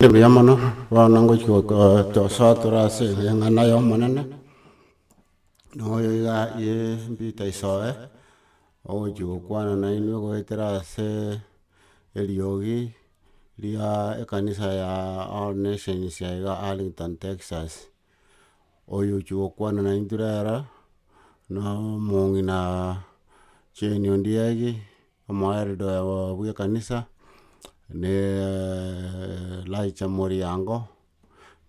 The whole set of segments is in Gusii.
Mbuya mono, bono ngochia gosoa tore ase eng'ana y'Omonene, na oyo iga ye Peter Isoe, ogochia gokwana nainwe goetera ase eriogi ria ekanisa ya All Nations ya iga Arlington, Texas. Oyo ochia gokwana naintwe rero, na omong'ina Jane Ondiegi. Omoeldore bw'ekanisa nee Elijah Moriango,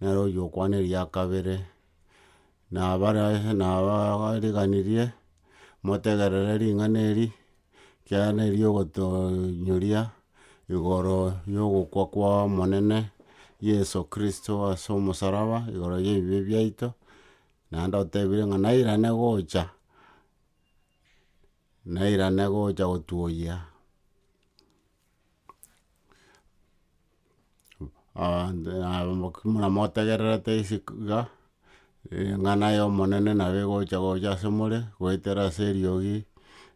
nere oywo okwana eria kabere, nabare nabariganirie motegerere ring'ana eri, ekiagera neri ogotonyoria igoro y'ogokwa kwa Omonene Yeso Kristo ase omosaraba igoro y'ebibe biaito, naende otebire ng'a nairane gocha. Nairane gocha gotuoyia muna motegererete iga, eng'ana y'Omonene nabo egocha gocha ase more, goetera ase eriogi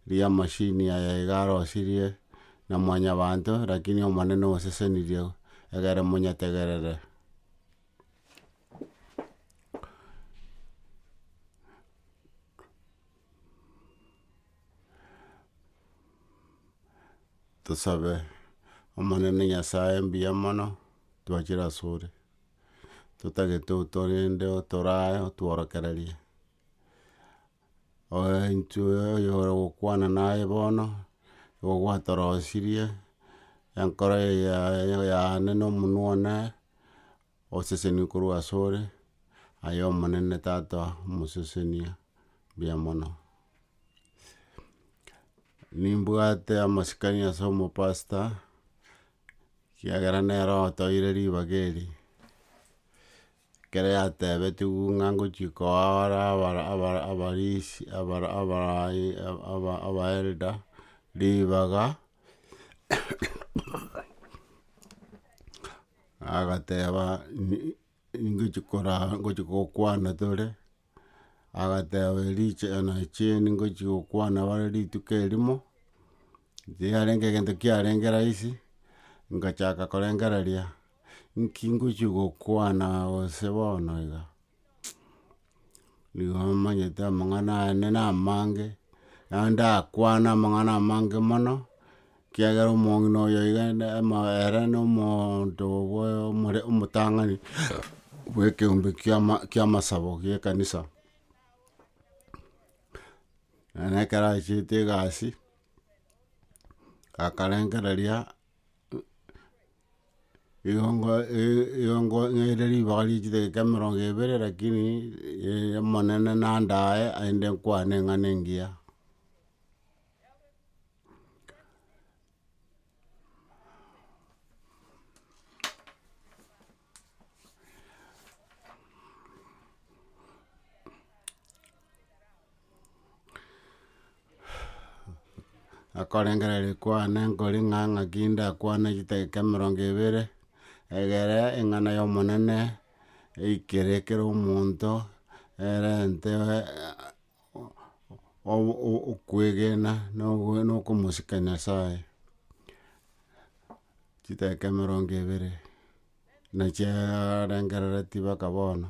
ri'amachini aya iga arosirie na mwanyabanto, rakini Omonene osesenirie egere monyetegerere. Tosabe, Omonene Nyasae mbuya mono twachire asore, totagete otorende otorae otworokererie, oe intwe oyore gokwana naye bono, nigo gwatorosirie, enkoro eye yaye yane na omonwa one. Osesenigwe korwa asore, aye Omonene Tata omosesenia mbuya mono. Nimbwate amasikani ase omopastor, ekiagera nere otoeire ribaga eri, ekero yatebetiwu ng'a ngochia koa bare abara abara abarisi abara abaai aba aba elder ribaga. agateba ningochi koraa ngochi gokwana tore, agateba richena chiaino ngochi gokwana bare rituko erimo, riarenge egento kiarenge rahisi, ngachaka korengereria, nki ngochi gokwana gose bono iga. nigo omanyete amang'ana aane na amange, naende ndakwane amang'ana amange mono, ekiagera omong'ina oyo iga na omoyo ere na omonto bwa omore omotang'ani bwekeombe kiama kiamasabo gie ekanisa. Naende ekero achiete egasi, akarengereria. Riongo ri- riongo nere ribaga rie chidakika emerongo ebere lakini omonene nandae aende nkwane eng'ana engiya. Nakorengera rikwane nkori ng'a ng'aki ndakwane chidakika emerongo ebere, egere eng'ana y'omonene, eikere kera omonto, erente okwegena na okomosika Nyasaye, chidakika emerongo ebere na chiarengereretie mpaka bono.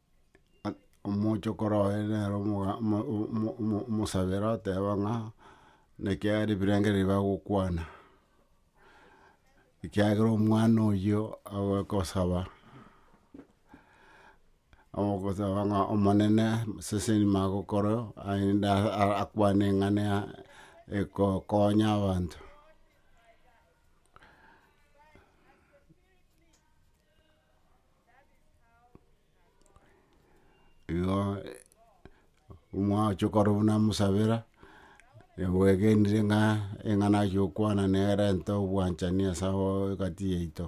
omochokoro oye nere omoga- omo- omo- omo- omosabera oteba ng'a nekiagera ebirengererio bagokwana, ekiagera omwana oyio agokosaba, agokosaba ng'a omonene seseni magokore aende a- a- akwane eng'ane ya ekokonya abanto. Igo omwachie okora buna mosabera, egwegenire ng'a eng'a nachia gokwana nere erente obwanchani ase abao egati yaito.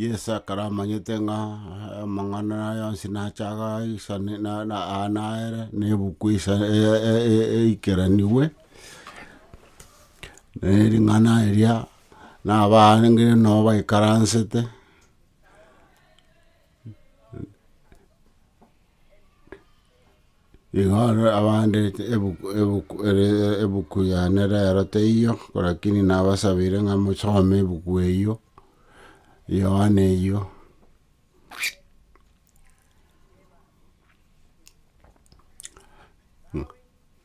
Yeso ekero amanyete ng'a amang'ana aya onsi nache agaisane, na, na, aa nere, na ebuku eisa, e- e- e- eikeranigwe, na ering'ana eria, na abaange nabo baikaransete. Igoro abande ebuku ebuku ere ebuku yane rero teiyo, lakini nabasabire ng'a mosome ebuku eyio, Yohana eyio.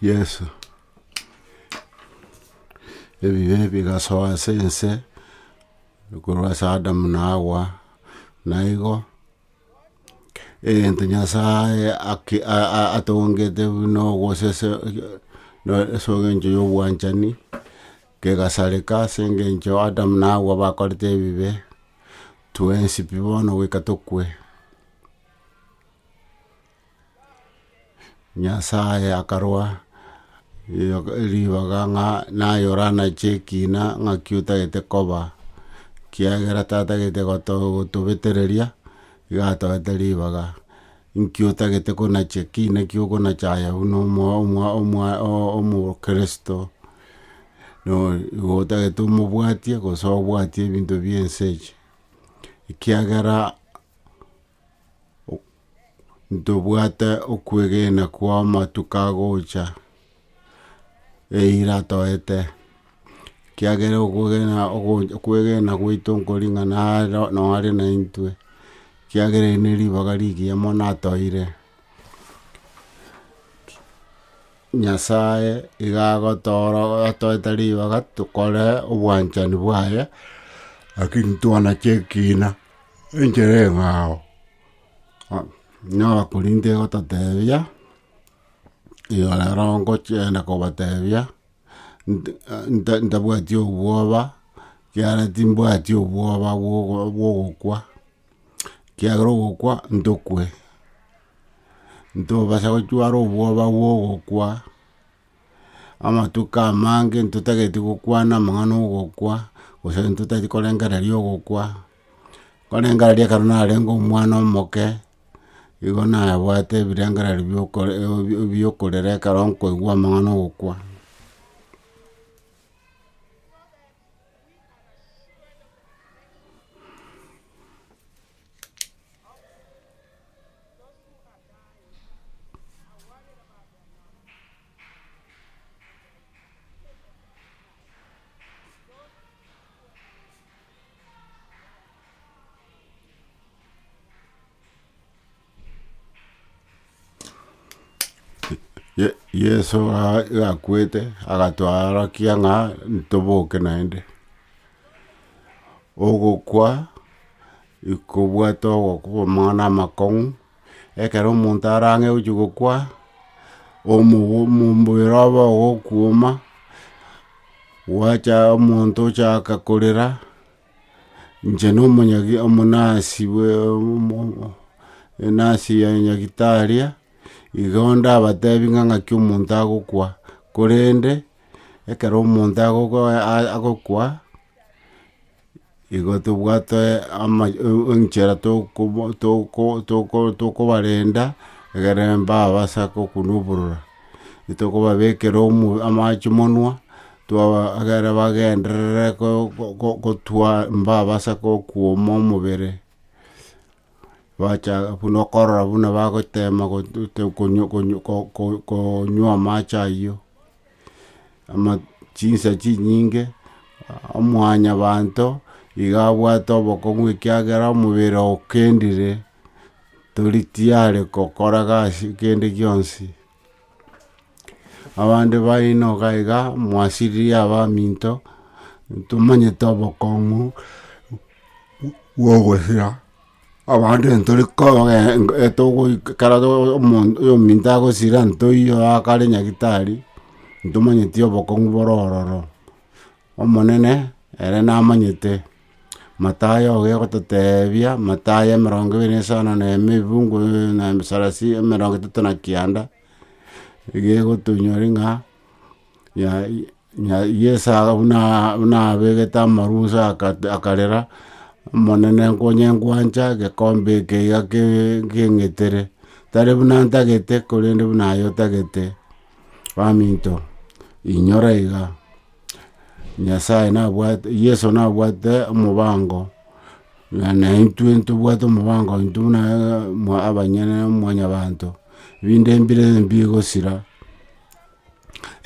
Yeso. Ebibe bigasoa ase ense, korwa ase Adamu na Hawa, na igo egento Nyasae ake a- a- atongete buna ogosese ase engencho ya obwanchani, kegasareka ase engencho Adamu na Hawa bakorete ebibe, twensi pi bono goika tokwe. Nyasae akarwa ribaga ng'a naye oranache ekina ng'aki otagete koba, ekiagera tatagete gotobetereria, iga atoete ribaga. Nki otagete konacha ekina ekio okonacha aye buna omokristo, nigo otagete omobwatie gose obwatie ebinto bie ense echi, ekiagera. ntobwate okwegena kwa amatuko agocha, eira atoete, ekiagera okwegena ogo okwegena gwaito nkoring'ana aro noo are naintwe, ekiagera ere neribaga rigiya mono atoire, Nyasaye iga agotooro atoete ribaga tokore obwanchani bwaye, lakini twanache ekina. Enchera eye ao, inyora korinte egototeebia, erio rero ngochienda kobateebia, ntabwati obwoba, ekiagera timbwati obwoba bw'ogokwa, ekiagera ogokwa ntokwe, ntobasa gochwara obwoba bw'ogokwa. amatuko amange ntotagete gokwana amang'ana ogokwa, gose ntotagete korengereria ogokwa, nkorengereria ekero narenge omwana omoke, igo nabwate ebirengererio bia okore bia okorera ekero nkoigwa amang'ana ogokwa. Ye- Yeso ga- gakwete agatworokia ng'a ntoboke naende. Ogokwa ikobwate ogokong'u. ekero omonto arang'e gochia gokwa, omobere obe ogokuoma, gwacha omonto ochaka korera, inche na omonyagi omonasi bwe enasi ya nyagitaria, igo ndabatebi ng'a ng'aki omonto agokwa, korende, ekero omonto agokwa. Igo tobwate ama enchera tokoba toko toko tokobarenda, egere mbabase ake okonwa oborora, tokobabekera omo amache monwa, twaba egere bagenderere ko ko kotwa mbabasa kokuoma omobere, bacha buna okorora buna bagotema go- go- go- go- konywa amache ayio. chinsa chinyinge, omwanyabanto igo abwate obokong'u ekiagera omobere okendire, tori tiyari gokora gasi kende gionsi. Abande bainoka iga mwasiririe abaminto, tomanyete obokong'u bwogosira. Abande ntore kogenga togoika ekero omonto ominto agosira ntoiyo akare nyagitari, ntomanyeti obokong'u bore ororo. Omonene ere namanyete, Mathayo iga egototebia, Mathayo emerongo ebere na esano na ime ebibugu na sarasi emerongo etato na kianda, iga egotonyori ng'a. Na Yeso buna abegete amarusa akarera, Omonene, nkonyengwancha gekombe eke iga keng'etere, tari buna ntagete, korende buna aye otagete. Baminto, inyora iga, Nyasae nabwate, Yeso nabwate omobango, naintwe ntobwate omobango intwe buna abanyene na mwanyabanto, binde mbire mbi gosira.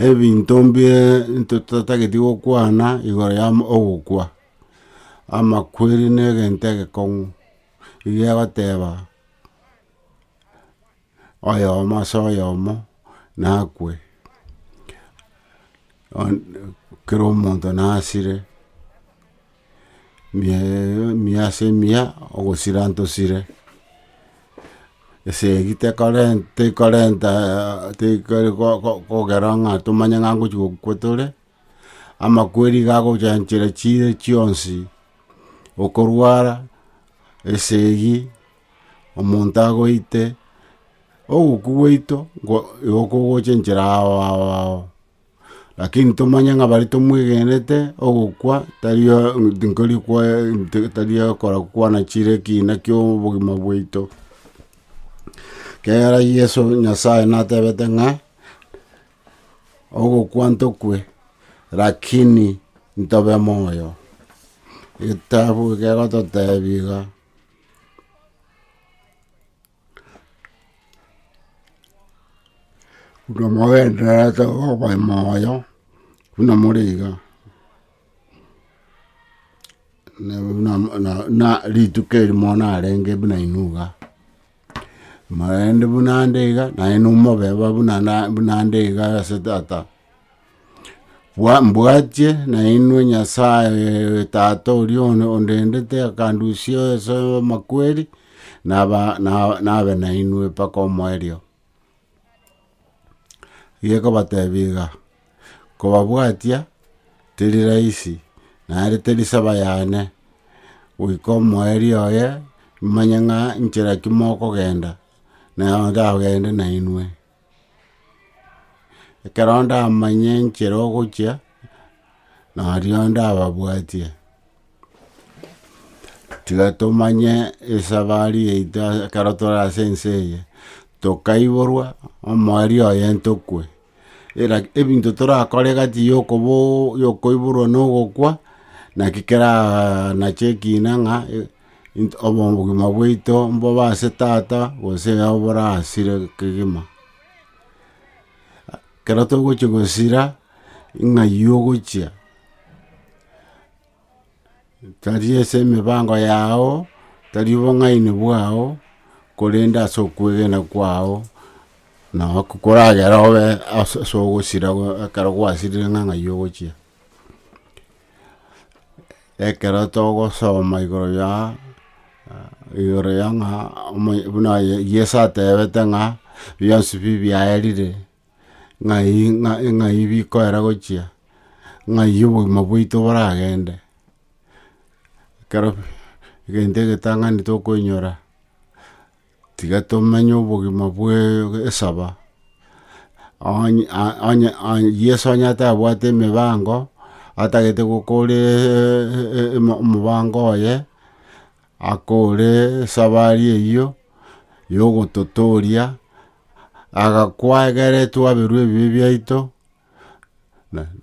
ebinto mbie ntotatageti gokwana igoro ya ogokwa, amakweri ne egento egekong'u, iga egoteba oyomo ase oyomo nakwe, kera omonto nasire. emiya ase emiya ogosira ntosire, esegi tekorenta kogera ng'a tomanye ng'a ngochi gokwa tore, amakweri iga agochanchera chire chionsi, okorwara, esegi, omonto agoite, ogokwa gwaito igo kogocha enchera ao ao ao. Lakini tomanye ng'a baria tomwegenete ogokwa tari tinkori tari okora kwana chire ekina ki'obogima bwaito. Ekiagera Yeso Nyasaye natebete ng'a ogokwa ntokwe lakini ntobe moyo. Egetabu ekegototebi iga. Buna mogendererete okoba moyo, buna more iga, na- na- na- na- na rituko eri moyo narenge buna inwe iga. Naende buna nde iga, naye nomobe buna na- buna nde iga ase tata. Bwa- mbwatie nainwe Nyasae oye Tata oria one- ondendete akandusia ase amakweri, naba na- nabe nainwe mpaka omoerio. Gie kobatebia iga, kobabwatia teri rahisi, naende teri saba yane, goika omoerio oye, nimanye ng'a nchera ki mokogenda, nao ndagende nainwe. Ekero ndamanya enchera ogochia, nario ndababwatie, tiga tomanye esabari yaito ekero tore ase ense eye, tokaiborwa omwari oye ntokwe, eraki ebinto torakore egati ya okobo ya okoiborwa na ogokwa, naki kera nache ekina ng'a. obogima bwaito mbobe ase Tata, gose ere nabo borasire kegima. Ekero togochia gosira, ng'ai ogochia? Tari ase emibango yao, tari obong'aini bwao, korende ase okwegena kwao, nabo koragera obe ase ogosira ekero gwasirire ng'a ng'ai ogochia. Ekero togosoma igoro ya igoro ya ng'a omoy buna aye Yeso atebete ng'a bionsi bi biaerire, ng'ai ng'a ng'ai bikoera gochia, ng'ai obogima bwaito boragende. Ekero egento egetang'ani tokoinyora. Tiga tomenye obogima bwe esaba. Onye onye Yeso onye atabwate emebango, atagete gokora omobango oye, akore esabari eyio ya ogototoria, agakwa egere twaberwe ebibe biaito,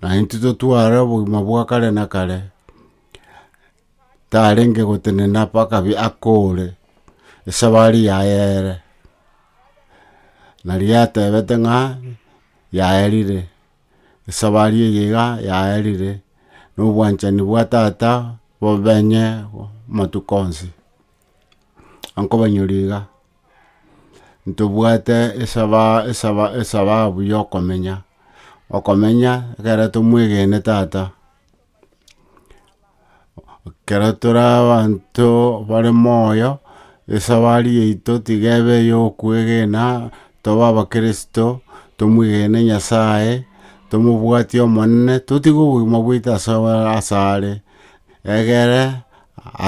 naintwe totware obogima bwa kare na kare. tarenge gotenena mpaka bi akoore, esabari yaye ere, nario yatebete ng'a yaerire, esabari eye iga yaerire, na obwanchani bwa tata bobenye amatuko onsi. Ankobanyoria iga, ntobwate esaba esaba esababu yokomenya, okomenya ekero tomwegene tata. Ekero tore abanto bare moyo, esabari yaito tiga ebe eyokwegena, tobe abakirisito, tomwegene Nyasaye, tomobwatie Omonene, totige obogima bwaito ase ase are, egere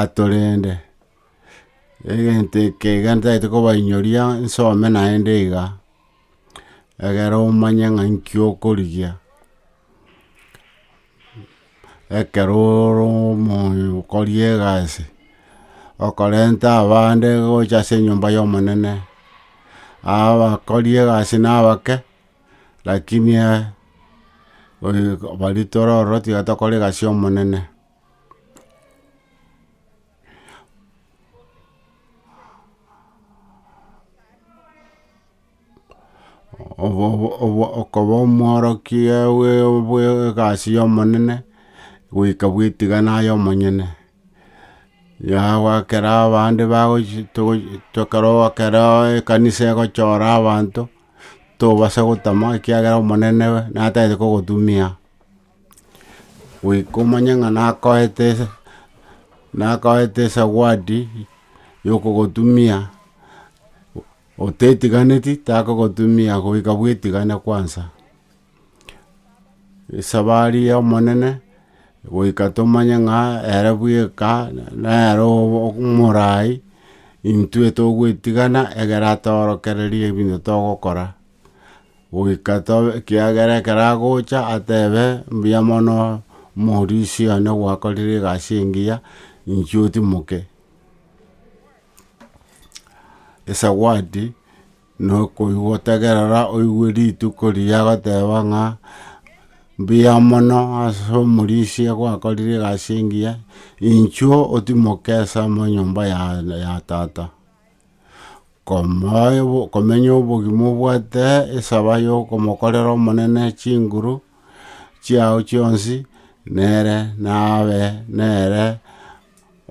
atorende. Egento eke iga ntagete kobainyoria nsome naende iga. egere omanye ng'a nki okorigia, ekero ore omonto okori egasi, okorenta abande gocha ase enyomba y'omonene, abakori egasi na abake, lakini bari toro ororo tiga tokora egasi y'omonene. okoba omworokia bwe egasi ya omonene, goika bwetigana aye omonyene, yagokera abande bagochi ekero ekero ekanisa egochora abanto, tobasa gotama ekiagera omonene natagete kogotumia, goika omanye ng'a nakoete nakoete esawadi yokogotumia. Otetiganeti takogotumia goika bwetigane kwansa. Esabari y'Omonene goika tomanye ng'a ere bweka nere omorai, intwe togwetigana egere atorokererie ebinto togokora. Goika tobe ekiagera ekero agocha atebe mbuya mono morisia one gwakorire egasi engiya, inche otimoke. esawadi, na okogotegerera oigwe rituko riria agoteba ng'a mbuya mono ase omorisia gwakorire egasi engiya, inchuo otimoke ase amo nyomba ya ya tata, komoe bo komenya obogima obwate esaba ya okomokorera omonene chinguru chiao chionsi nere nabe nere.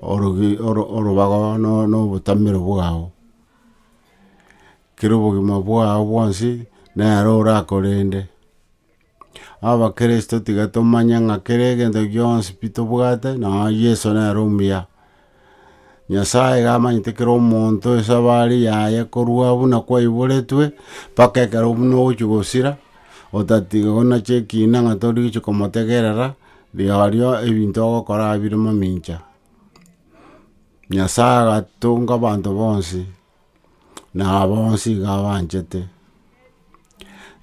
orobaga na obotamero bwao. Kera obogima bwao bwonsi nere orakorende. Abakristo tiga tomanye ng'a kera egento gionsi pi tobwate nonya Yeso nere omuya. Nyasaye iga amanyete kera omonto esabari yaye korwa buna kwaiboretwe mpaka ekero buna ogochi gosira otatiga onache ekina ng'a torigochi komotegerera Rirorio ebinto ogokora bire mamincha. Nyasae agatunga abanto bonsi, na bonsi iga abanchete.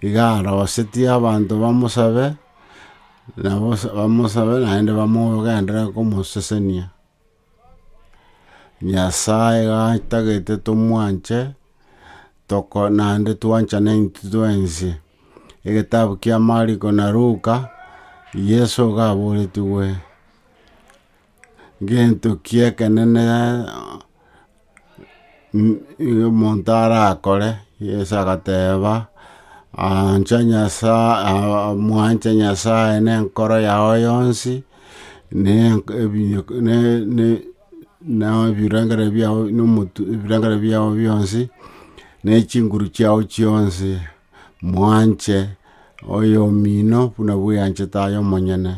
Iga arosetie abanto bamosabe, naende bamogenderere komosesenia. Nyasae gatagete tomwanche, toko naende twanchane intwe twensi. Egetabu kia Mariko na Luka, Yeso iga aboretigwe, gento ki'ekenene. omonto arakore, Yeso agateba, ancha Nyasaye mwanche Nyasaye na enkoro yao yonsi, ne na ebirengererio biao na omotu ebirengererio biao bionsi, ne chinguru chiao chionsi, mwanche oyomino buna bweyanchete aye omonyene.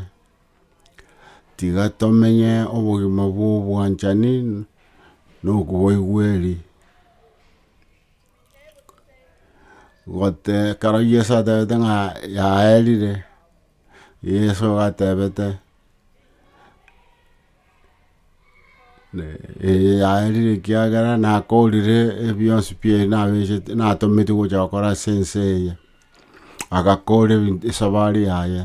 Tiga tomenye obogima bw'obwanchani na okobaigweri. ekero Yeso atebete ng'a yaerire, Yeso atebete Ee yaerire ekiagera nakorire ebionsi pi- nabecheti natometie gocha gokora ase ense eye, agakora ebin esabari yaye,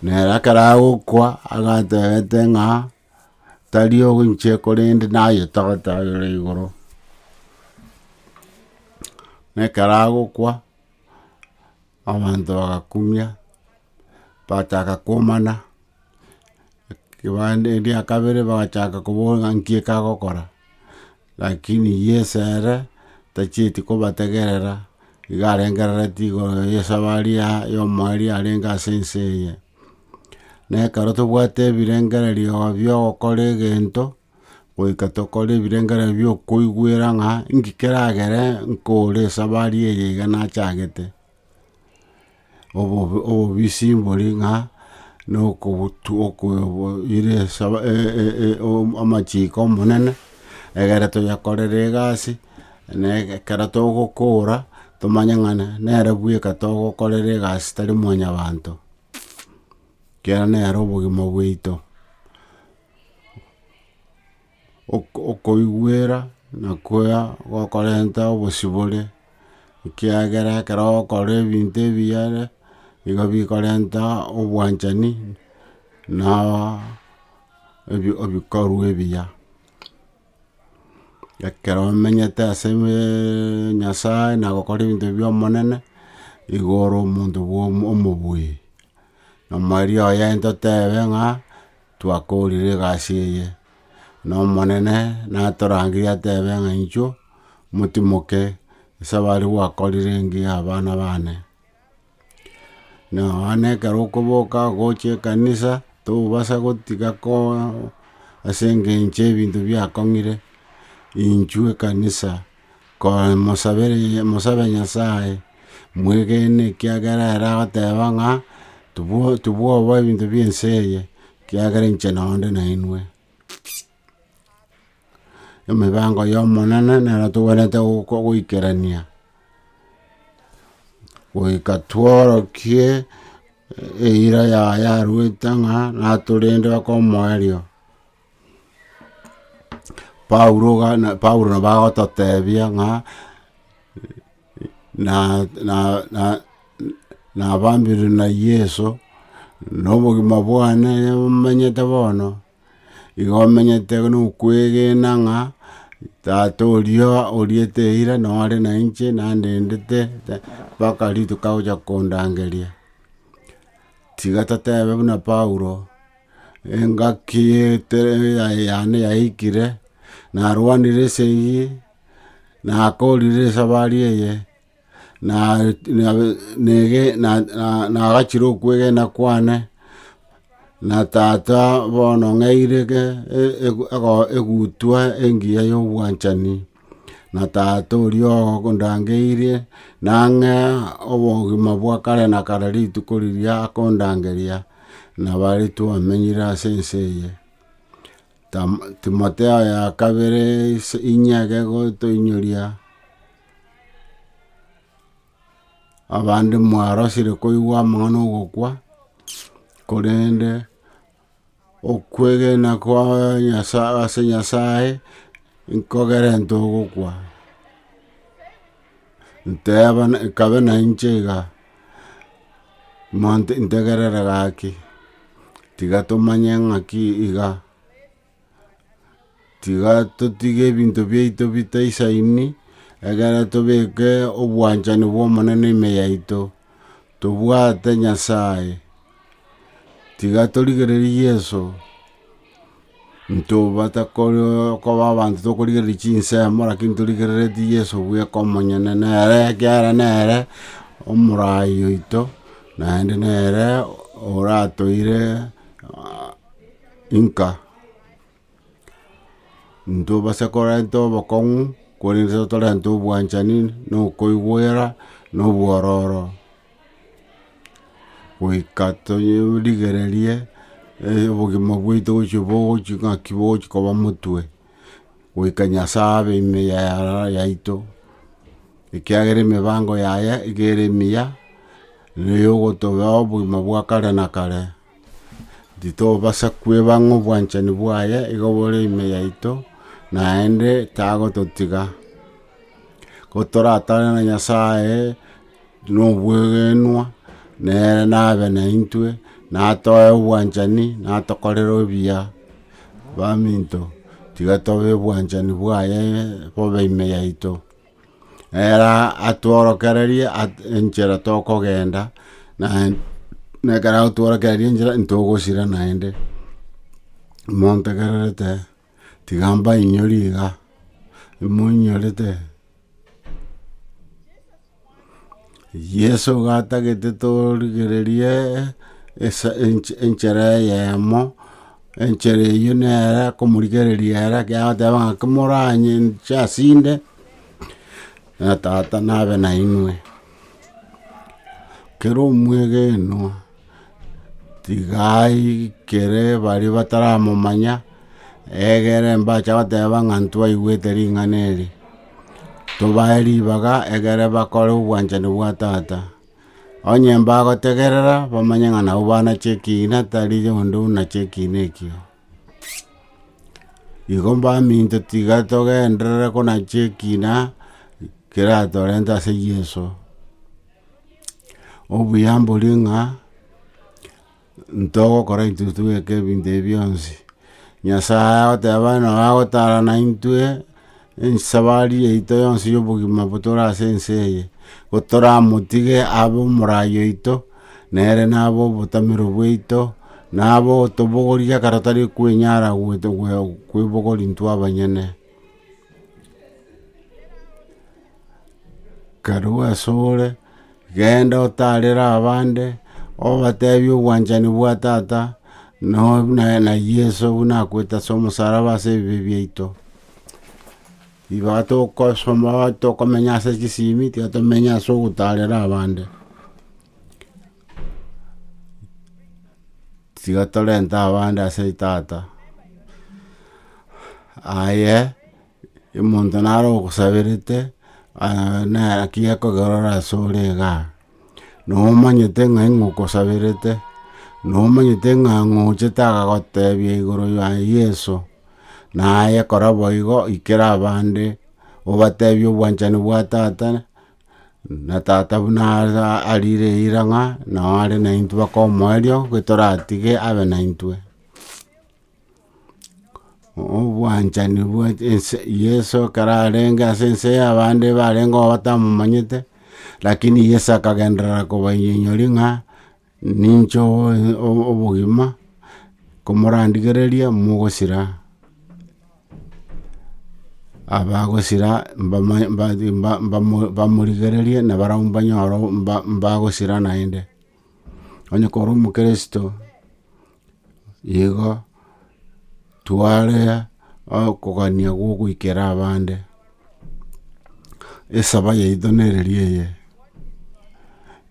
nere ekero agokwa agatebete ng'a tari oinche korende nayetagete aye ore igoro, na ekero agokwa, abanto bagakumia, bataka komana. Kebande eria kabere bagachaka koboa ng'a nki ekagokora, lakini Yeso ere tachieti kobategerera, iga arengerereti igoro y'esabari ya y'omoerio yarenge ase ense eye. Na ekero tobwate ebirengererio biogokora egento, goika tokore ebirengererio bio okoigwera ng'a nki keragere nkore esabari eye iga nachagete. obobisi mbori ng'a nokoboira amachiko Omonene, egere toyekorere egasi, na ekero togokora, tomanye ng'a nere bweka togokorera egasi tari mwanyabanto, ekiagera nere obogima bwaito. Okoigwera nakoa gokorenta obosibore, ekiagera ekero ogokora ebinto ebiya nigo bikorenta obwanchani na ebikorwa ebiya. Ekero omenyete ase Nyasaye na gokora ebinto bia Omonene, nigo ore omonto bwa omobuya. Omwerio oye intotebe ng'a. Twakoorire egasi eye, na Omonene natorangerie atebe ng'a inchuo motimoke ase abare gwakorire engiya abana baane. Na abana ekero okoboka gocha ekanisa, tobasa gotiga ase engencho y'ebinto biakong'ire, inchuo ekanisa Komosabereria, mosabe Nyasae, mwegene, ekiagera ere agoteba ng'a tibwo tibwoba ebinto bi'ense eye, ekiagera inche nonde nainwe. Emebango y'Omonene nero togwenerete goko goikerania, goika tworokie eira yaye aruete ng'a natorende baka omoerio. Paulo gana Paulo nabo agototebia ng'a na na na nabambire na Yeso, na obogima bwane omenyete bono, igo omenyete buna okwegena ng'a tata oria oriete eira noo are na inche nandendete mpaka rituko agocha kondangeria. Tiga totebe buna Paulo. Engaki yane yaikire, narwanire ase eyio, nakorire esabari eye, nagachire okwegena kwane, na tata bono ng'eire egutwa engiya y'obwanchani. na Tata oria ogondangeirie, nang'e obogima bwa kare na kare rituko riria akondangeria, na bare twamenyire ase ense eye. Tam- Timotheo ya kabere is inye egegotoinyoria, abande mwarosire koigwa amang'ana 'ogokwa, korende. Okwegena kwa Nyasae ase Nyasae nkogerente ogokwa, nteeba nkabe na inche iga, monto ntegerere gaki, tiga tomanye ng'aki iga. tiga totige ebinto biaito bitaisaini, egere tobeke obwanchani bw'Omonene ime yaito, tobwate Nyasae, tiga torigererie Yeso, ntobatakore- koba abanto tokorigereria chinsemo, rakini torigereretie Yeso bweka omonyene, nere ekiagera nere omorai oito, naende nere oratoire. Inka! Intobase korenta obokong'u, korende totorenta obwanchani, na okoigwera, na obwororo, goika torigererie obogima bwaito gochia bogochi ng'aki bogochi koba motwe, goika Nyasae abe ime yaito, ekiagera emebango yaye nigo ere emiya, nere ogotoba obogima bwa kare na kare. Titobasa kweba ng'a obwanchani bwaye igo bore ime yaito, naende tagototiga. Gotoratare na Nyasae nobwegenwa, nere nabe naintwe, natoe obwanchani, natokorere obuya. Baminto, tiga tobe obwanchani bwaye bobe ime yaito. Ere atworokererie at- enchera tokogenda, na na ekero agotworokereria enchera ntogosira naende. Montegererete, tiga mbainyore iga, moinyorete. Yeso gatagete torigererie enchera eyemo, enchera eyio nere komorigereria ere agateba ng'a komoranche ase inde, na tata nabe nainwe. Kera omwegenwa tiga aikere baria bataramomanya egere mbache goteba ng'a ntwaigwete ring'ana eri. tobae ribaga egere bakore obwanchani bwa Tata. Onye mbagotegerera, bamanye ng'a nabwo bana chi'ekiina, tari onde buna chi'ekiina ekio. Igo mbaminto tiga togenderere buna chi'ekiina keratorente ase Yeso. Obuya mbori ng'a. Ntogokora intwe togeke ebinto ebi bionsi. Nyasae agoteba nabo agotara naintwe esabari yaito yonsi yobogima botore ase ense eye, gotoramotige abe omorai oito, nere nabe obotamero bwaito, nabe otobogoria ekero tari kwenyara kwebogori intwe abanyene. Karue asore, genda otarere abande, obatebie obwanchani bwa tata, no na Yeso buna akoete ase omosaraba ase ebibe biaito. Igo tokosoma tokomenya ase chisimi, tiga tomenye ase ogotarera abande. Tiga torente abande ase tata, aye. Omonto naro ogosaberete, naki akogerora ase ore iga, na omanyete ng'ai ng'a okosaberete, na omanyete ng'a ngochete agagotebia igoro ya Yeso, na aye kora boigo ikera abande obatebie obwanchani bwa Tata, na Tata buna arire eira ng'a nao are naintwe baka omoerio, toratige abe naintwe. obwanchani bwa ense Yeso ekero arenge ase ense ya abande barenge oo batamomanyete, lakini Yeso akagenderera kobanyonyoria ng'a ninche obo- obo- obogima, komorandigereria mogosira, abagosira mbamanye mbari mba- mba- bamorigererie na barabwo mbanyore mba- mbagosira naende. Onye kore omokeresito. Igo twarea okogania gwa ogoikera abande, esaba yaito nereri eye,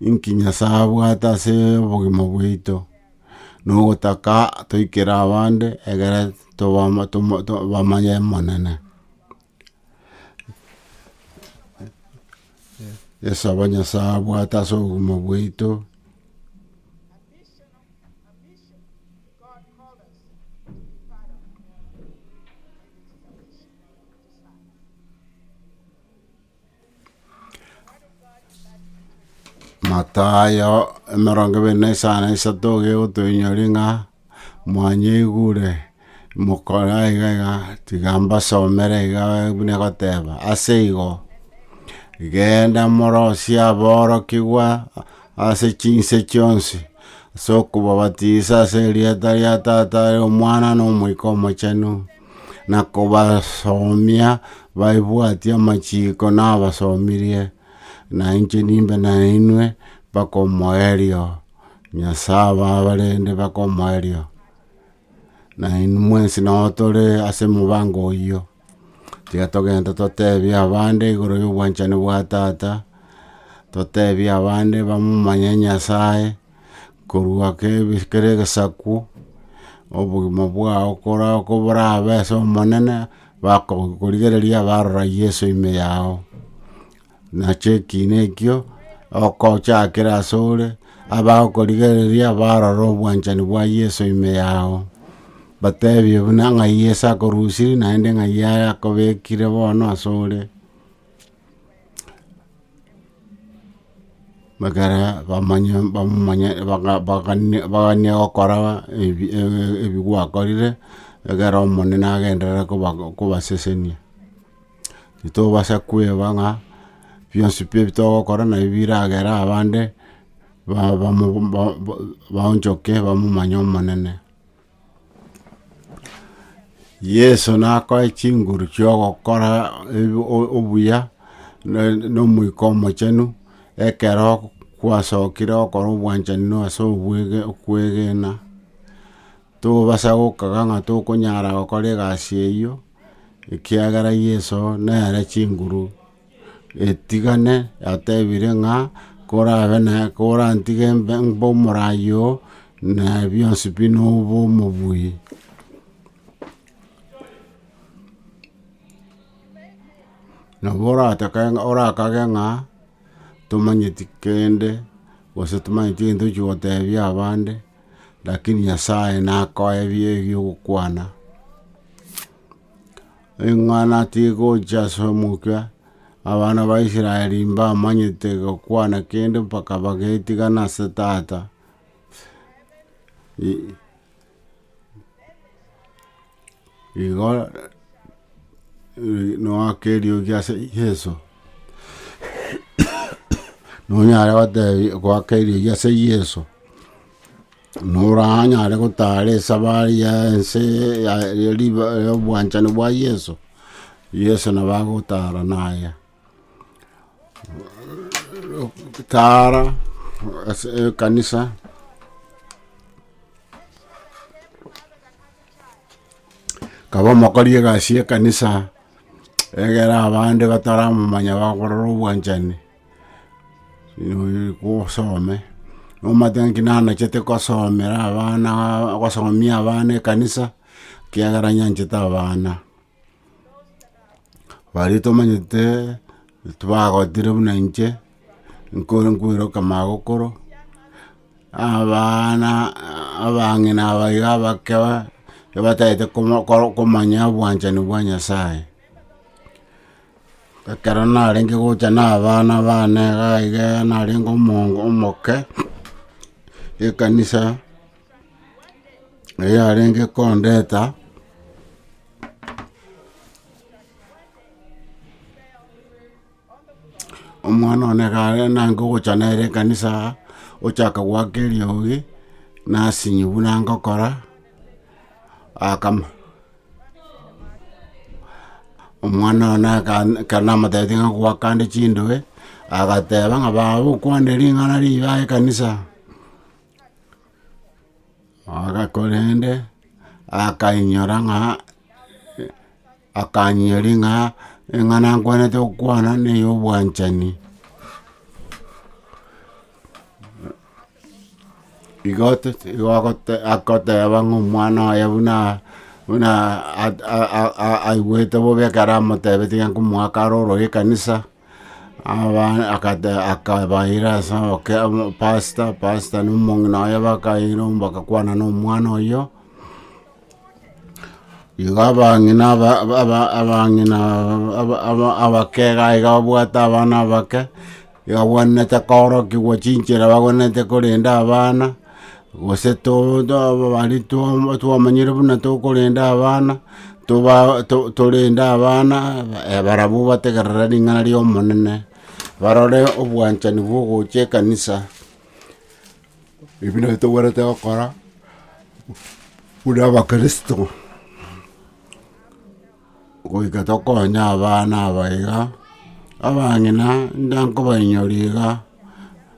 inki Nyasae abwate ase obogima bwaito, na ogotaka toikere abande egere tobama toma bamanye Omonene. Yeso aba Nyasae abwate ase obogima bwaito. Mathayo emerongo ebere na isano na isato iga egotoinyora ng'a mwanyaigure mokore aiga iga tiga mbasomere iga buna egoteba, ase igo genda morosie aborokigwa ase chinse chionsi ase okobabatisa ase erieta ria Tata, Omwana, na Omoika Omochenu. na kobasomia baebwatie amachiiko nabasomirie, na inche nimbe nainwe mpaka omoerio, Nyasae abe abarende mpaka omoerio. Na inwe mwensi nao tore ase mobango oyio, tiga togende toteebie abande igoro y'obwanchani bwa Tata, toteebie abande bamomanye Nyasae. korwa kera egesaku, obogima bwao koborabe ase Omonene, bakorigereria barora Yeso ime yao, nacho ekiina ekio okochakere ase ore, abagokorigereria barora obwanchani bwa Yeso ime yao, batebie buna ng'ai Yeso akorusirie naende ng'ai akobekire bono ase ore. Ekero bamanya bamumanya baga- bagani baganie gokora ebi ebi gwakorire, ekero omonene agenderere koba kobasesenia. Titobasa kweba ng'a bionsi pi ebi togokora nabi biragere abande, ba- bamu ba- ba- baonchoke bamomanye omonene. Yeso nakoe chinguru chi'ogokora ebi- o- obuya, na- na Omoika Omochenu, ekero kwasokire gokora obwanchani na ase obwege okwegena, tobasa gokaga ng'a tokonyara gokora egasi eyio, ekiagera Yeso nere chinguru. etigane yatebire ng'a korabe na korantige mbe mbe omoraai oo, na ebionsi pi nobe omobuya. Nabo oratake ng'a orakage ng'a tomanyeti kende gose tomanyeti egento ochi gotebia abande, lakini Nyasaye nakoebie ebiokokwana. Ing'ana tigocha ase omokia, abana ba Israeli mbamanyete gokwana kende mpaka bagetigana ase tata. Igo noaka eriogi ase Yeso, nonyare gotebi, goaka eriogi ase Yeso. Noranyare gotara esabari ya ense y'obwanchani bwa Yeso, Yeso nabo agotara naye. Tara ase ekanisa, kaba omokori egasi y'ekanisa egere abande bataramomanya bakorora obwanchani. gosome, omanyete ngaki nanachete kosomera abana gosomia abana ekanisa, ekiagera nyanchete abana. Baria tomanyete tibagotire buna inche, nkore nkoeroka magokoro, abana abang'ina aba iga abake aba, batagete komanya obwanchani bwa Nyasaye. Ekero narenge gocha na abana bane iga iga narenge omonge omoke, ekanisa eria yarenge kondeta, omwana one iga are nange ogocha nere ekanisa iga, ochaka goaka eriogi, nasinywa buna ngokora, akama. Omwana one akan- ekero namotebirie ng'a gwakande chindoe, agateba ng'a baba okwane ring'ana riibe aa ekanisa, aga korende akainyora ng'a akanyiyoria ng'a eng'ana nkwanete gokwana neyobwanchani. Igo otoche- igo agote- agoteeba ng'a omwana oye buna buna at- a- a- a- aigwete bobe ekero amoteebeti ng'a nkomoa kare ororo ekanisa, abana akate akabaira ase oboke omo pastor pastor na omong'ina oye bakaira baka kwana na omwana oyio. Igo abang'ina aba- aba- abang'ina aba- aba- abake iga iga babwate abana abake, abagwenerete koorokigwa chinchera abagwenerete korenda abana, gose to- to ababari twaba twamanyire buna tokorenda abana, toba to- torende abana barabwo bategerere ring'ana ri'Omonene, barore obwanchani bwa ogocha ekanisa, Ebi nabio togwenerete gokora buna Abakristo, goika tokonye abana aba iga, abang'ina ntankobainyoria iga,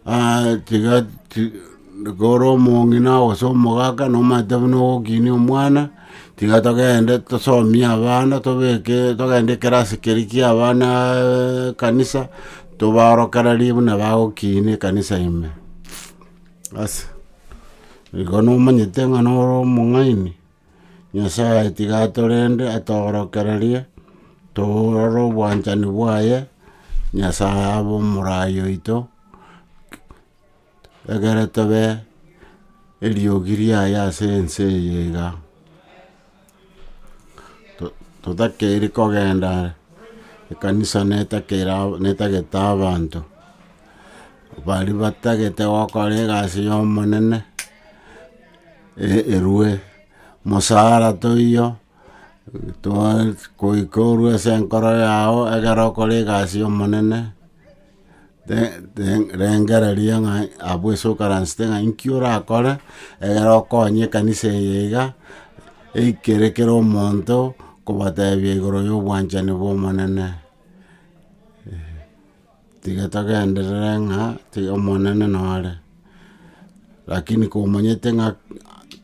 aa- tiga ti- kore omong'ina gose omogaka nomanyete buna ogokinia omwana, tiga togende tosomie abana tobeke togende ekerasi keria kia abana ekanisa. Tobaorokererie buna bagokiina ekanisa ime. Ase igo nomanyete ng'a nore omong'aini, Nyasae tiga atorende atoorokererie, torore obwanchani bwaye, Nyasae abe omorai oito. Egere tobe eriogi riaye ase ense eye iga, totakeiri kogenda ekanisa netagete abanto, baria batagete gokora egasi ya Omonene, erwe, mosara toiyo, goika orwe ase enkoro yao egere okore egasi ya Omonene. Rengereria ng'a abwo ase okaransete ng'a inki orakore ekero okonye ekanisa eye iga, eikere kera omonto kobatebia igoro ya obwanchani bwa Omonene. Tiga togenderere ng'a tiga Omonene nore, rakini komanyete ng'a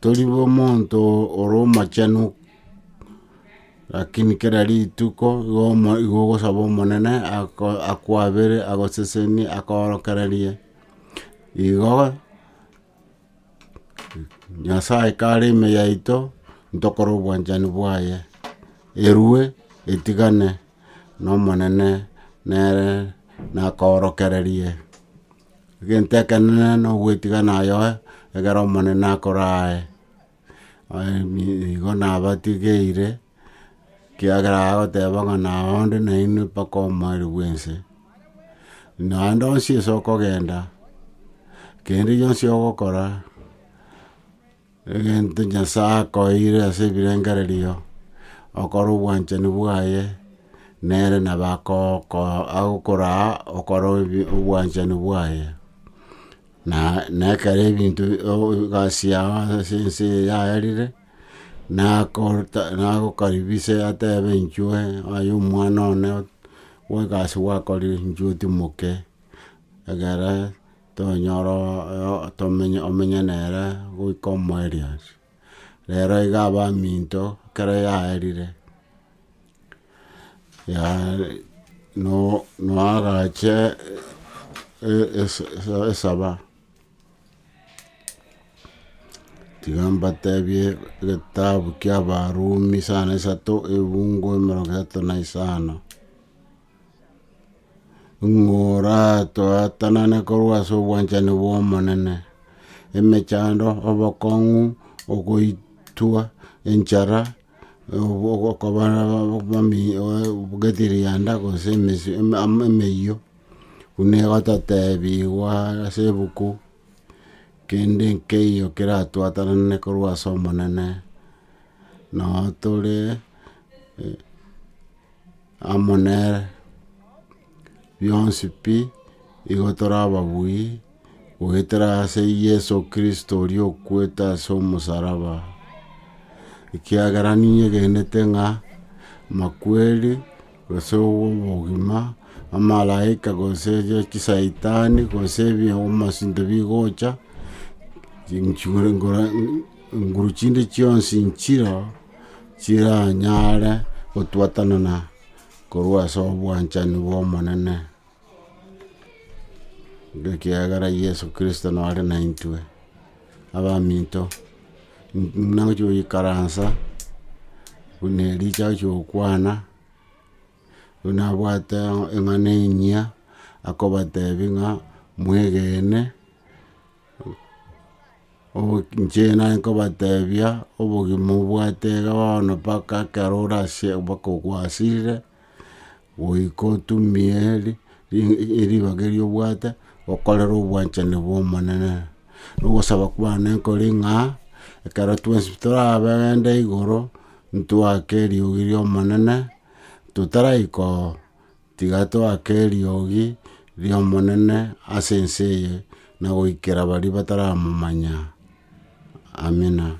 tori bomonto ore omochenu Rakini kera rituko igo ogosaba omonene akwabere agosesenie akoorokererie, igo nyasaye kare ime yaito ntokore obwanchani bwaye, erwe etigane na omonene nere nakoorokererie, egento ekenene na ogwetigana aye egere omonene akorae. igo nabatigeire, ekiagera agoteba ng'a nao onde nainwe mpaka omoerio bwense. Naende onsi ase okogenda, kende gionsi ogokora, egento nyasae akoeire ase ebirengererio, okore obwanchani bwaye, nere nabo akogokoa agokoraa okore obwanchani bwaye. Na nekero ebinto egasi yao ase ense eye yaerire, nagokaribise atebe inchuo, aye omwana one bwe egasi gwakorire inchuo otimoke, egere tonyore omenye nere goika omoerio. Rero iga abaminto ekero yaerire, noa agacha esaba, tiga mbatebie egetabu kiabarumi sana isato, ebungo emerongo etato na isano. ng'a oratoatanane korwa ase obwanchani bw'Omonene, emechando, obokong'u, ogoitwa, enchara, okoba getirianda gose emeyio, buna egototebiwa ase ebuku, kende nkeiyo keratoatanane korwa ase Omonene, nao tore. amo nere, bionsi pi, igo tore ababui, goetera ase Yeso Kristo oria okwete ase omosaraba, ekiagera ninyegenete ng'a amakweri, gose obogima, amalaika, gose chisaitani, gose abasinto bigocha, nguru chinde chionsi nchireo. chiranyare gotwatanana korwa ase obwanchani bw'Omonene, ekiagera Yeso Kristo nore naintwe. Abaminto, buna ngochia goikaransa, buna erio nchakire gokwana, buna abwate eng'ana enyia, akobatebi ng'a mwegene. Inche naye nkobatebia, obogima obwate iga bono mpaka ekero ore ase mpaka ogwasirire, goika otumie ribaga erio obwate, okorere obwanchani bw'Omonene. Na ogosaba kwane nkore ng'a, ekero twensi toragende igoro, ntwake eriogi ri'Omonene, totaraika oo. Tiga toake eriogi ri'Omonene ase ense eye na goikera baria bataramomanya. Amina.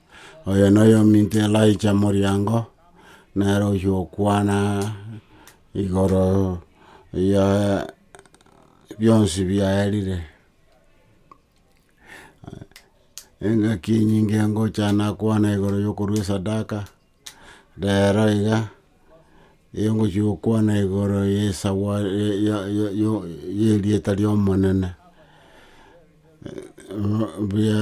Oyo noyominto Elijah moriango, nere oyio okwana igoro ya bionsi biaerire. Engaki enyinge ngocha nakwana igoro yokorwa esadaka. Reero iga, erio ngochia gokwana igoro y'erieta ri'Omonene, buya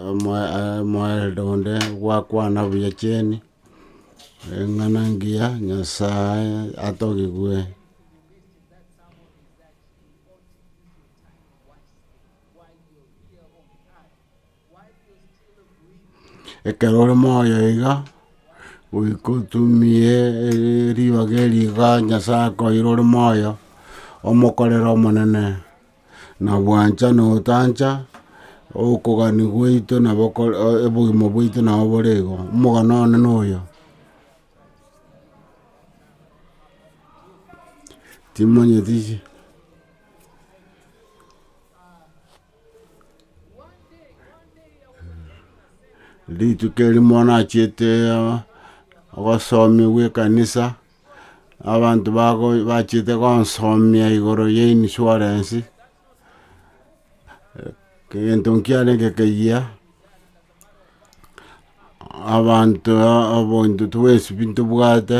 omwaeldo onde gwakwana buya chieni, eng'ana engiya, Nyasae atogigwe. Ekero ore moyo iga, goika otumie ribaga eriga Nyasae akoeire ore moyo, omokorere Omonene, na bwancha na otancha, okogania gwaito nabo kore obogima bwaito nabo bore igo, omogano one noyo. Timanyeti. Rituko erio monachiete obosomi bw'ekanisa, abanto bago bachiete gonsomia igoro ya insurance, egento nkiarenge ekeyia, abanto obointo twa esibiti ntobwate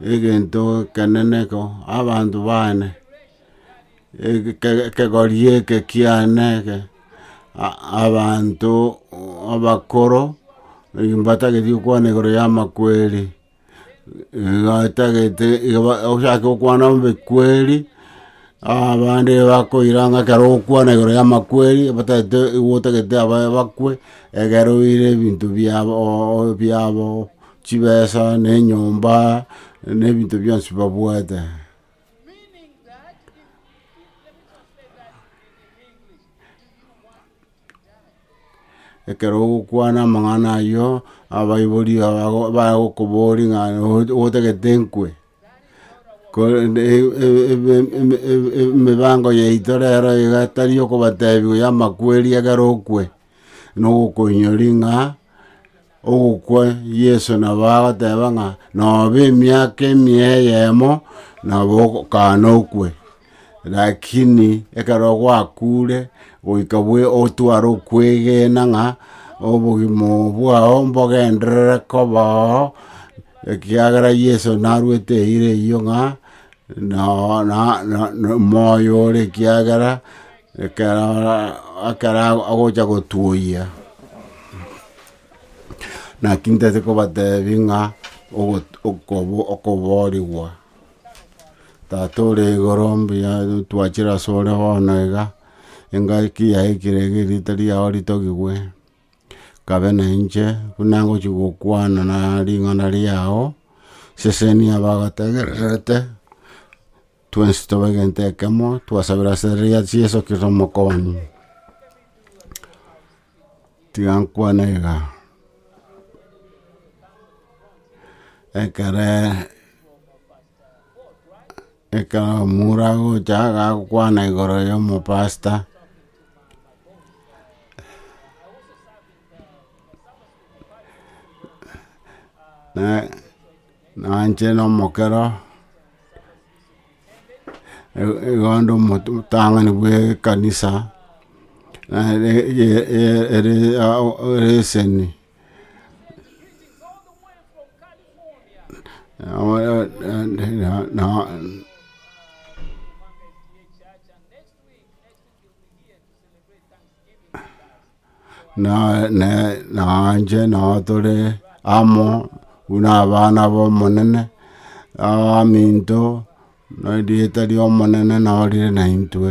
egento ekenene eke abanto baane, ekegori eke kiane eke, abanto abakoro mbatagete okwana igoro ya amakweri, batagete ochake okwana mbe kweri, abande bakoira ng'a ekero ogokwana igoro ya amakweri batagete igo otagete abae bakwe, egere oire ebinto biabo biabo. chibesa, na enyomba, na ebinto bionsi babwate. Ekero ogokwana amang'ana ayio, abaibori bago- bagokoboria ng'a otagete nkwe. Korende e- e- ebe- eme- ebe- emebango yaito rero iga tari yokobatebigwa ya amakweri ekero okwe, na ogokoinyori ng'a ogokwa Yeso nabo agoteba ng'a nobe emiaka emia eyemo, nabo ogokana okwe. Lakini ekero gwakuure, goika bwe otware okwegena ng'a obogima bwao mbogenderere koba oo, ekiagera Yeso narwete eira eyio ng'a noo na na moyo ore ekiagera ekero ekero agocha gotuoyia. Naki ntete kobatebi ng'a ogo okobo okoborigwa. Tata ore igoro, mbuya twachire ase ore bono iga, engaki yaye ekire iga erieta riao ritogigwe, kabe na inche buna ngochi gokwana na ring'ana riao, seseni abagotegererete, twensi tobe egento ekemo, twasabera ase riaria Yeso Kristo Omokoonia. Tigankwana iga, ekere ekero omura agocha agakwana igoro ya omopasta, na- nache na omokero. Igondo omotang'ani bw'ekanisa nere ere eseni na ne na inche nabo tore amo buna abana b'Omonene, abaminto, na erieta ri'Omonene nabo rire na intwe.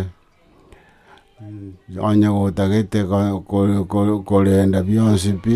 Onye gotagete ko- ko- ko- korenda bionsi pi,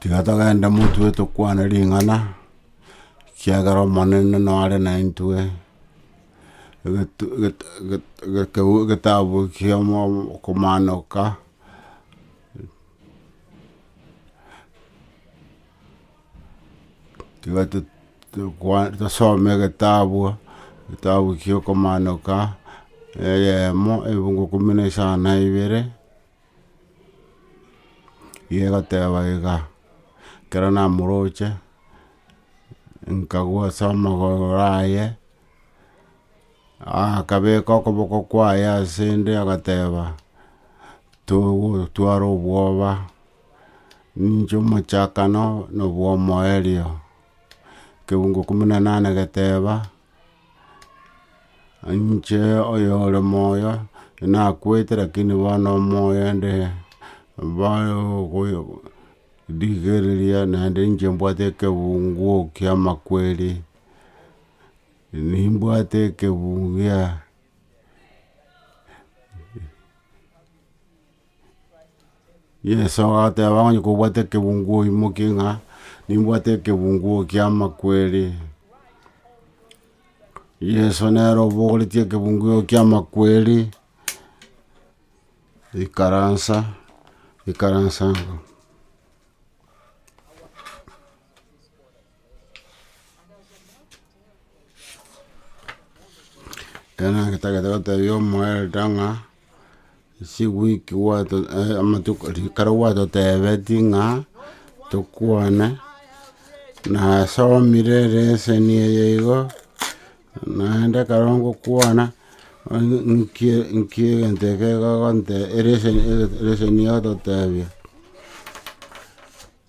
Tiga togende motwe tokwane ring'ana, ekiagera Omonene nore naintwe, egetu gete gete getabu kia okomaanoka. tiga to- tokwa tosome egetabu, egetabu kia okomaanoka, eyemo ebungo kumi na isano na ibere, iga egoteba iga, ekero namoroche, nkagwa ase omogoro oraye. Akabeka okoboko kwaye ase 'nde, agateba, Togotwara obwoba, ninche omochakano na obw'omoerio. Ekegungo ikomi na nane geteba, Ninche oyore moyo, nakwete lakini bono omoyo inde rigereria naende ninche mbwate ekegungu ki'amakweri. Nimbwate ekebu gia Yeso agateba onye kobwate ekebungo oimoke ng'a nimbwate ekebungo ki'amakweri. Yeso nere obogoretie ekebungo eke ki'amakweri, ikaransa, ikaransa. Ekero ngetagete gotebia omoelda ng'a, ase ewiki gwato amatuko ekero gwatotebetie ng'a, tokwane, nasomire ereseni eye igo, naende ekero ngokwana, onye nki nki egento eke gogonte ereseni ereseni egototebia.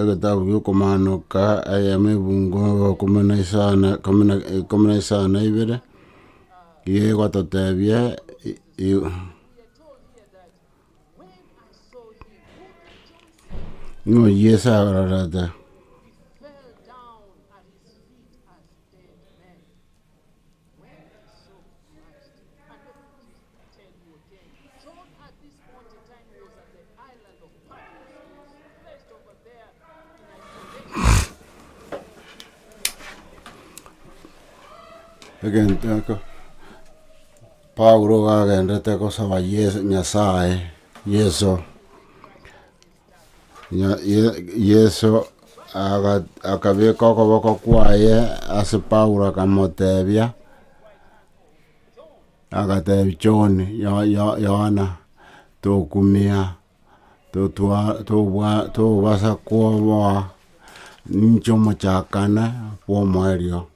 egetabu giokomaanoka egeeno ebungo ekumi na isano ekumi na isano na ibere igo egototebia ng'a oyio Yeso arorete Egento eke Paulo gagendete gosaba Ye- Nyasaye Yeso. Yeso akabeka okoboko kwaye ase Paulo akamotebia, agatebia John, Yohana, tokumia, tobasa koboa ninche omochakane bw'omoerio.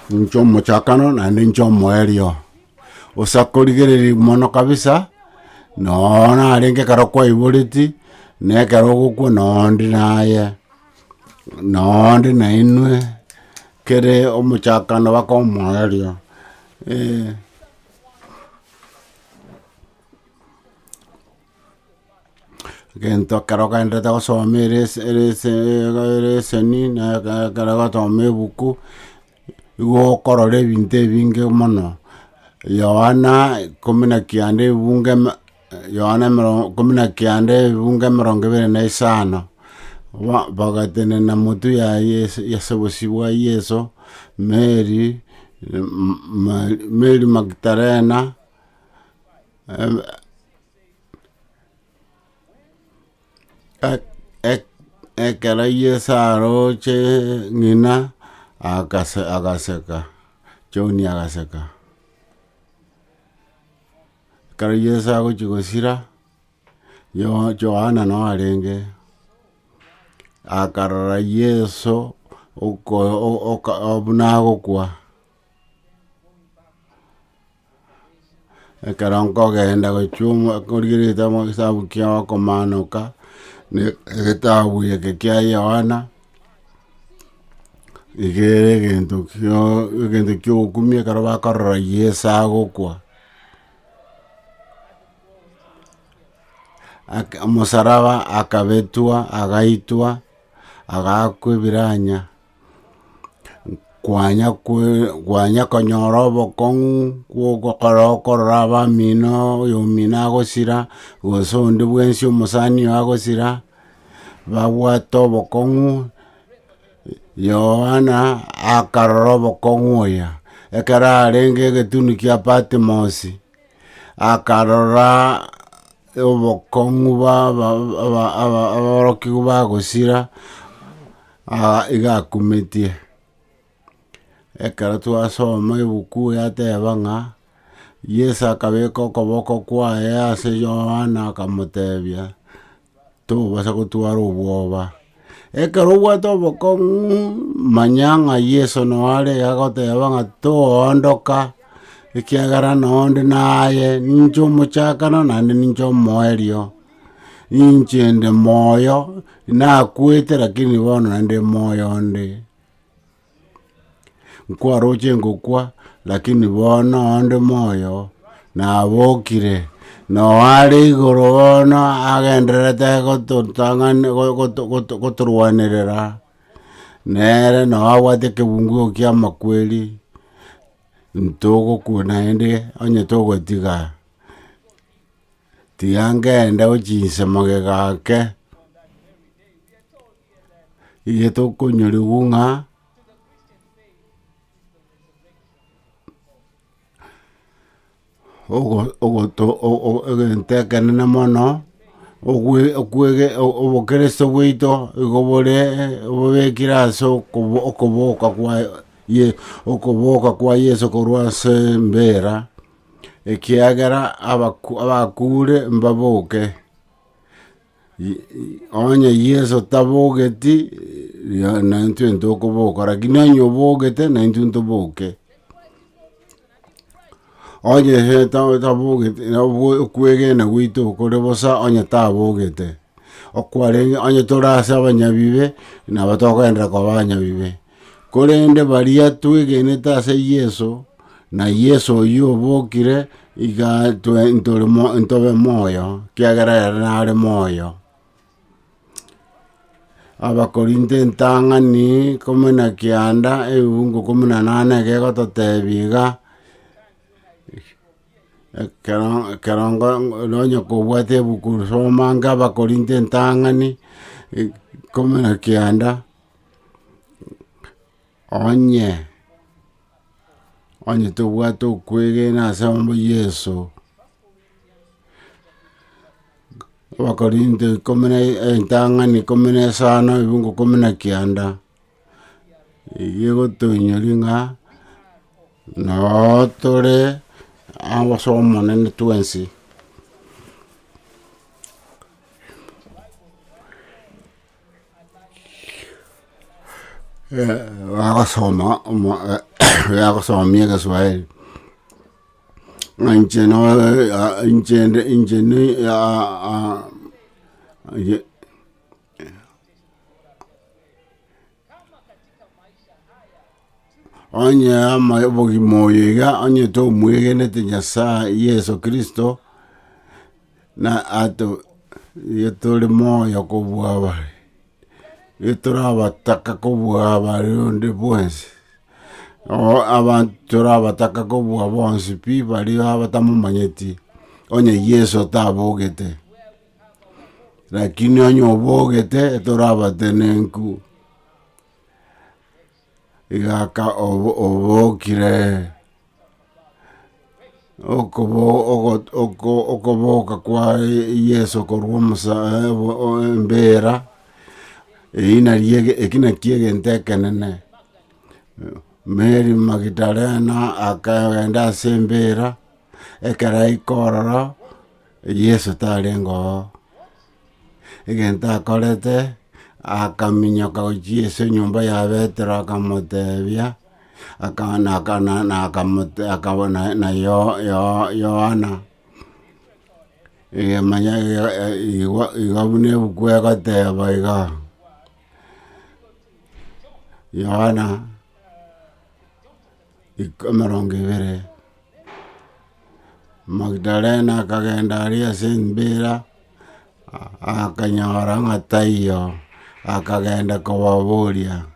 Ninche omochakano naende ninche omoerio osakorigereria mono kabisa nooo narenge ekero kwaiboreti na ekero ogokwa noo ndi naye noo ndi nainwe kere omochakano baka omoerio eeh. Egento ekero ogenderete gosoma ere ase ere ase ere eseni na eke- ekero ogosoma ebuku, igo okorora ebinto ebinge mono, Yohana ikomi na kianda ebunge me- Yohana emerongo ikomi na kianda ebunge emerongo ebere na isano, ba bagatenena motu ya Yesu ase obosio bwa Yeso, Mary, Ma- Mary Magdalena. Ek- ek- ekero Yeso aroche ng'ina akase agaseka, John agaseka. Ekero Yeso agochia gosira, Yoh- Johana noo arenge, akarora Yeso oko- o- oka- buna agokwa. Ekero nkogenda gochia korigereria amo getabu kia okomanoka, ne egetabu eke kia Yohana, igere egento kio egento kia okumia ekero bakorora Yeso agokwa. Aka omosaraba akabetwa agaitwa agakwa ebiranya. Kwanya kwe kwanya konyora obokong'u bw'ogokora okorora abamino oyomino agosira gose onde bwensi omosani oye agosira babwate obokong'u Yohana akarora obokong'u oya ekero arenge egetuni kia Patimosi akarora Obokong'u bw'aborokigwa bagosira, aa iga akumetie. Ekero twasoma ebuku yateba ng'a, Yeso akabeka okoboko kwaye ase Yohana akamotebia. Tokobasa gotwara obwoba. Ekero obwate obokong'u, manya ng'a Yeso noare agoteba ng'a toondoka, ekiagera nonde naye, ninche omochakano naende ninche omoerio. Ninche nde moyo, nakwete lakini bono naende moyo onde. Nkwaroche ngokwa, lakini bono onde moyo, nabokire, na oare igoro bono agendererete gototang'ani- go- go- go- gotorwanerera, nere nao abwate ekebungo eke ki'amakweri, ntogokwa naende onye togotiga, tiga ngende gochiinsa magega ake. Getokonyoriwu ng'a egento ekenene mono obokristo bwaito igo bore bobekire ase okoboka kwa okoboka kwa Yeso korwa ase embera ekiagera abakure mbaboke. Onye Yeso tabogeti, naintwe ntokoboka, lakini onye obogete, naintwe ntoboke. Onye tabogeti, okwegena gwaito kore bosa onye tabogete. Okwarenge onye tore ase abanyabibe, nabo tokogenderera koba abanyabibe. Korende baria twegenete ase Yeso, na Yeso oyio obokire, iga intwe ntore mo- ntobe moyo, ekiagera ere nare moyo. Abakorinto entang'ani ikomi na kianda ebibugu ikomi na nane egegototebi iga, ekero- ekerongo nonye kobwate ebuku soma inga Abakorinto entang'ani ikomi na kianda. Onye, onye tobwate okwegena ase abana ba Yeso, Abakorinto ikomi na entang'ani ikomi na esano ebiungo ikomi na kianda, eye egotoinyori ng'a noo tore ase omonene twensi. bagosoma yagosomia egeswaeri, ng'a inche nore inche inde inche ni onye ama obogima oyo iga onye tomwegenete nyasae yeso kristo. Na ato nigo tore moyo kobua abare, nigo torabataka kobua abare onde bwensi. Nabo abanto torabataka kobua bonsi pi baria abatamomanyeti, onye Yeso otabogete. Lakini onye obogete, torabatenenku. Igaka obokire okoboka kwa Yeso korwa embeera, eyio nario ekina kiegento ekenene. Mary Magidalena akagenda ase embeera ekero aika ororo Yeso tarenge oo. egento akorete, akaminyoka gochia ase enyomba ya Petero akamotebia, aka- na- aka- na- na- akamote akaba na- na Yo- Yo- Yohana, eye manya eye- e- igo igo buna ebuku egoteba iga, Yohana. emerongo ebere. Magdalena akagenda aria ase embeera, akanyora ng'a taiyo, akagenda kobaboria,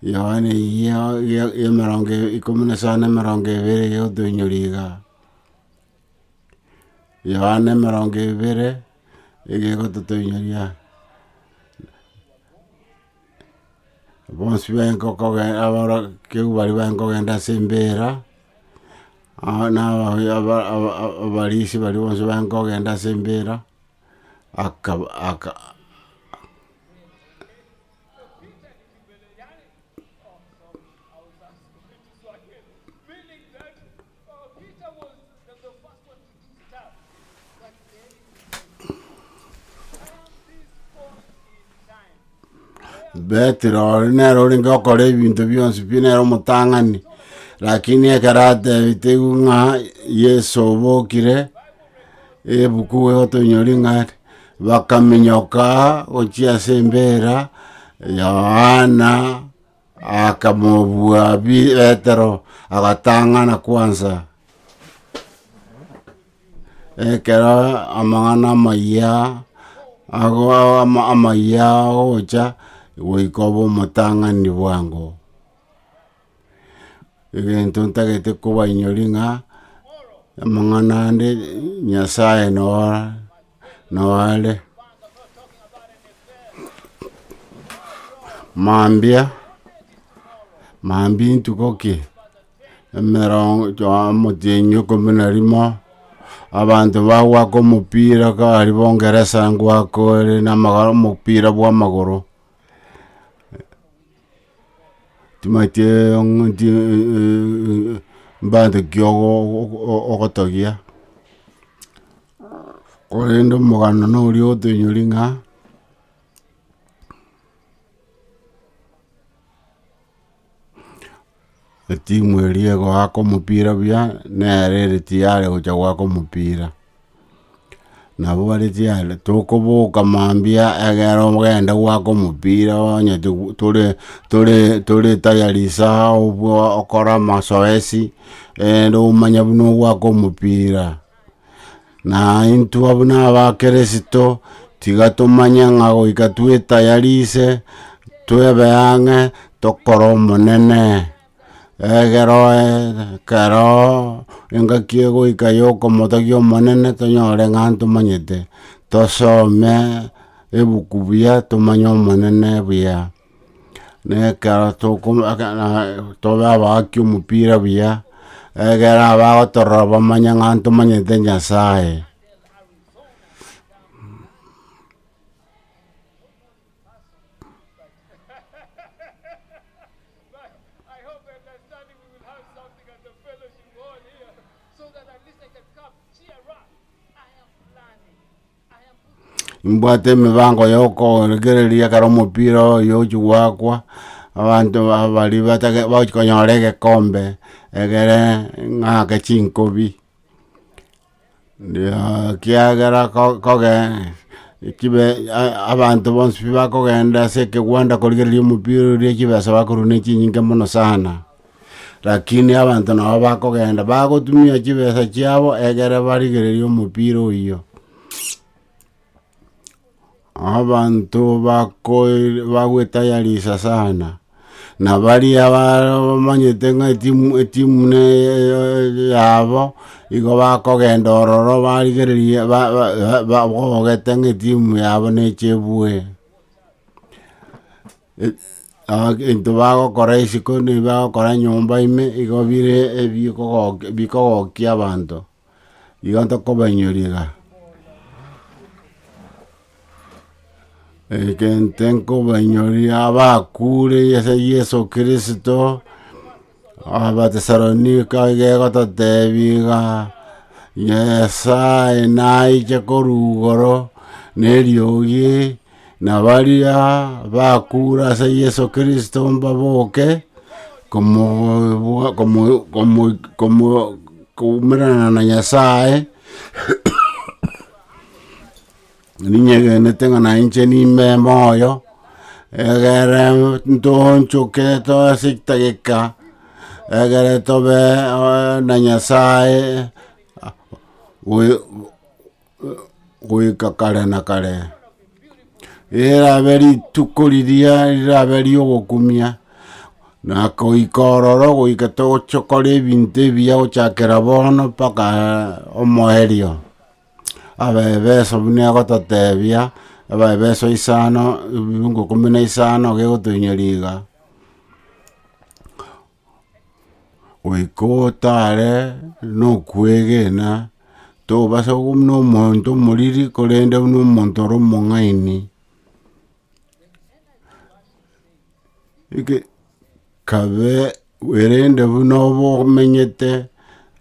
Yohana eyio ya- ya emerongo e- ikomi na isano na emerongo ebere eyio otoinyore iga? Yohana emerongo ebere, nigo egototoinyoria. bonsi baikokogenda aborokigwa baria baikogenda ase embeera, aa- na aba- aba- aba- abarisia baria bonsi baikogenda ase embeera, akaba aka. Petero ore nere orenge okora ebinto bionsi pi nere omotang'ani lakini ekero atebitigwe ng'a yeso obokire ebuku egotonyori ng'a bakaminyoka gochia ase embera yohana Akamobua pi Petero, agatang'ana kwansa. Ekero amang'ana amayia ago ama- amayia agocha, goika obe omotang'ani bwango. Egento ntagete kobainyori ng'a, amang'ana ande Nyasae noa. Nao are mambia, mambia intuko ki? emerongo amatenyi ikomi na rimo, abanto bagoaka omopira kare bo ngeresa ngoaka ore na omopira bwa amagoro. Timanyeti mbare ki ogotogia, korende omogano noria otoinyori ng'a, Etimu eria egoaka omopira buya nere ere tiyare gocha goaka omopira. Nabo bare tiyari tokoboka mambia egere ogende goaka omopira onye tore tore tore tayari saha okore amasoesi rende omanye buna ogoaka omopira. Na intwe buna abakirisito tiga tomanye ng'a goika twetayarise twebe ang'e tokore Omonene, egero ekero engaki egoika yokomotogia Omonene tonyore ng'a ntomanyete, tosome ebuku buya tomanye Omonene buya. Nekero tobe abaaki omopira buya, egere abagotorora bamanye ng'a ntomanyete Nyasaye. Mbwate emibango yokoregereria ekero omopira oyo ochia goakwa, abanto babo baria batake bagochia konyora egekombe egere ng'a ake chinkobi kiagera ko koge ekibe abanto bonsi pi bakogenda ase ekegwanda korigereria omopira oria chibesa bakorwa na echinyinge mono sana. Lakini abanto nabo bakogenda bagotumia chibesa chiabo egere barigererie omopira oyio. Abanto bako- bagwetayarisa sana, na baria ba- bamanyete ng'a etimu etimu ne yabo, igo bakogenda ororo barigereria ba- ba- ba- bogete ng'a etimu yabo neche ebue. Egento bagokora isiko nigo bagokora nyomba ime igo bire ebikogokia bikogokia abanto, igo tokobainyoria iga. Egento nkobainyoria abakuure ase Yeso Kristo. Abatesalonika igeko totebi ng'a Nyasae naiche korwa igoro neriogi, na baria bakure ase Yeso Kristo mbaboke koumerana na Nyasae, Ninyegenete ng'a nainche nime moyo, egere ntoonchoke toa ase egtageka, egere tobe na Nyasae goika kare na kare. Erabe rituko riria rirabe riogokumia, na goika ororo goika togochia gokora ebinto ebiya gochakera bono mpaka omoerio. Abaefeso buna egototebia, Abaefeso isano, ebiungo ikomi na isano gegotoinyoria iga, goika otare na okwegena, tobasa ko buna omonto omoriri, korende buna omonto ore omong'aini. Kabe, erinde buna obe omenyete,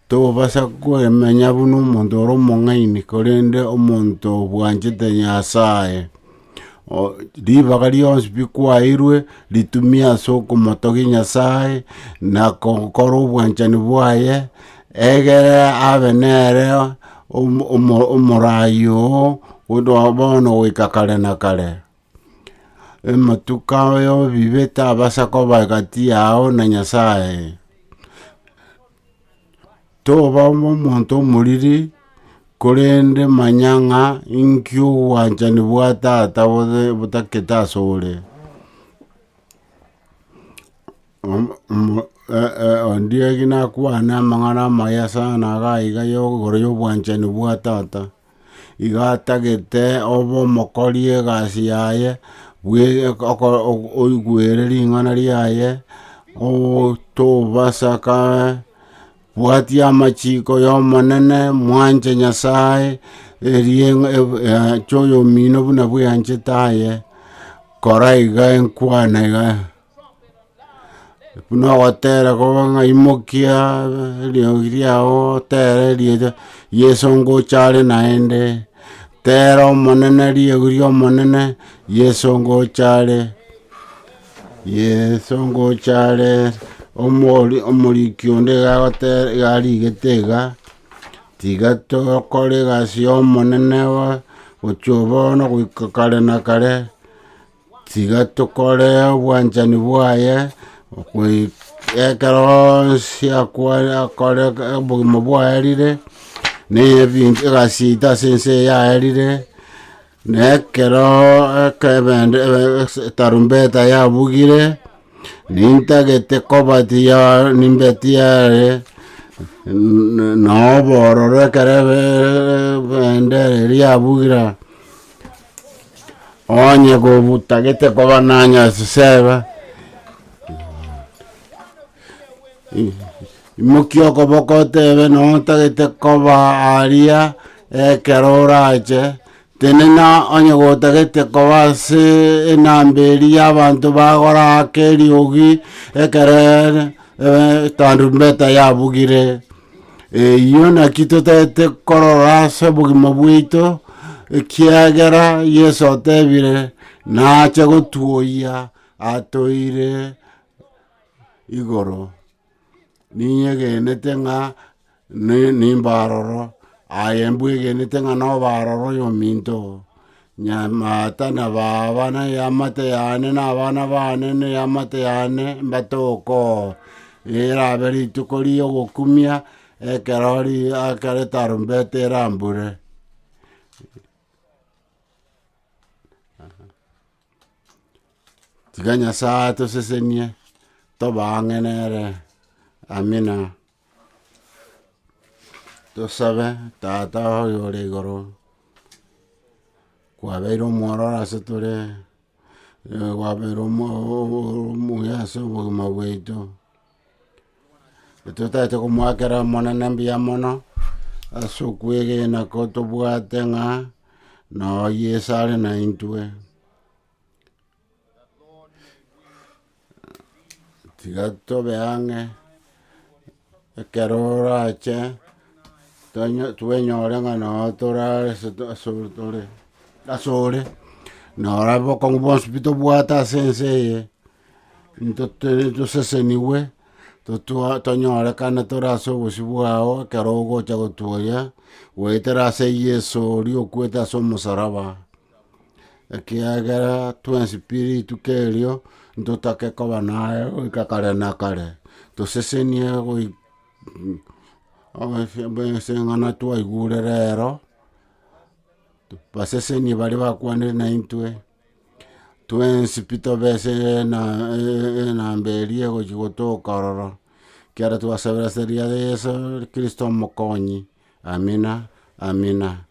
tokobasa kwemenya buna omonto ore omong'aini, korende omonto obwanchete Nyasaye. Ribaga rionsi pi kwaeirwe, ritumia ase okomotogia Nyasaye, na gokora obwanchani bwaye, egere abe nere omoraai oo, bono goika kare na kare. Ematuko y'obibe tabasa koba egati yao na Nyasaye. Toba omonto omoriri, korende manya ng'a inki obwanchani bwa Tata botakete asore. Ondiegi nakwane amang'ana amaya sana iga iga igoro y'obwanchani bwa Tata, iga atagete obe omokori egasi yaye, oigwere ring'ana riaye, otobasaka, bwatia amachiko y'Omonene, mwanche Nyasaye, erie anche oyomino buna bweanchete aye, kora iga enkwana iga. Buna ogotera koba ng'a imokia eriogi riao otere riire Yeso ngocha are naende, tera Omonene riogi ria Omonene, Yeso ngocha are, Yeso ngocha are, omori omoriki onde iga agotera iga arigete iga, tiga tokore egasi ya Omonene bono, gochia bono goika kare na kare, Tiga tokore obwanchani bwaye goi- ekero onsi akwa- akore obogima bwaerire, na ebinto egasi yaito ase ense eye yaerire, na ekero eke ebende- ebe- ese- etarumbeta yabugire, nintagete kobati ya nimbeti yare n- n- na obororo ekero ebe- ebendera eria yabugira. Onye gobutagete koba nanya ase seba I- imokia okoboko otebe noo otagete koba aria ekero orache tenena onye gotagete koba ase enamba eria ya abanto bagora ake eriogi ekerere tarumbeta yabugire. Eyio naki totagete korora ase obogima bwaito, ekiagera Yeso otebire, nache gotuoyia atoire igoro. Ninyegenete ng'a ni- nimbe aroro, aye mbwegenete ng'a nobe aroro oyominto oo. Nyamata na baba na eamate yane na abana bane na eamate yane mbatoko, erabe rituko ri'ogokumia ekero ri- ekero etarumbeta erambure. Tiga Nyasaye atosesenie, tobe ang'e nere. Amina. Tosabe, Tata oye ore igoro, kwabeire omwororo ase tore, kwabeire omuya ase obogima bwaito, totaete komoakera omonene mbuya mono, ase okwegena kotobwate ng'a, noyo yesare naintwe. Tiga tobe ang'e, ekero orache tonyo- twenyore ng'a noo tore ase to- ase ore tore ase ore, nora obokong'u bwonsi pi tobwate ase ense eye, nto tere tosesenigwe, totwa tonyorekane tore ase obosio bwao ekero ogocha gotuoria, goetera ase Yeso oria okwete ase omosaraba. ekiagera tw'ensipiriti kerio ntotake koba naye goika kare na kare, tosesenie goik- ase eng'ana twaigurera ero, basesenie baria bakwanire naintwe, tw'ensipi tobe ase ena enamba eria egochia gotoka ororo, ekiagera twasabera ase ria Yeso Kristo omokonyi, amina amina.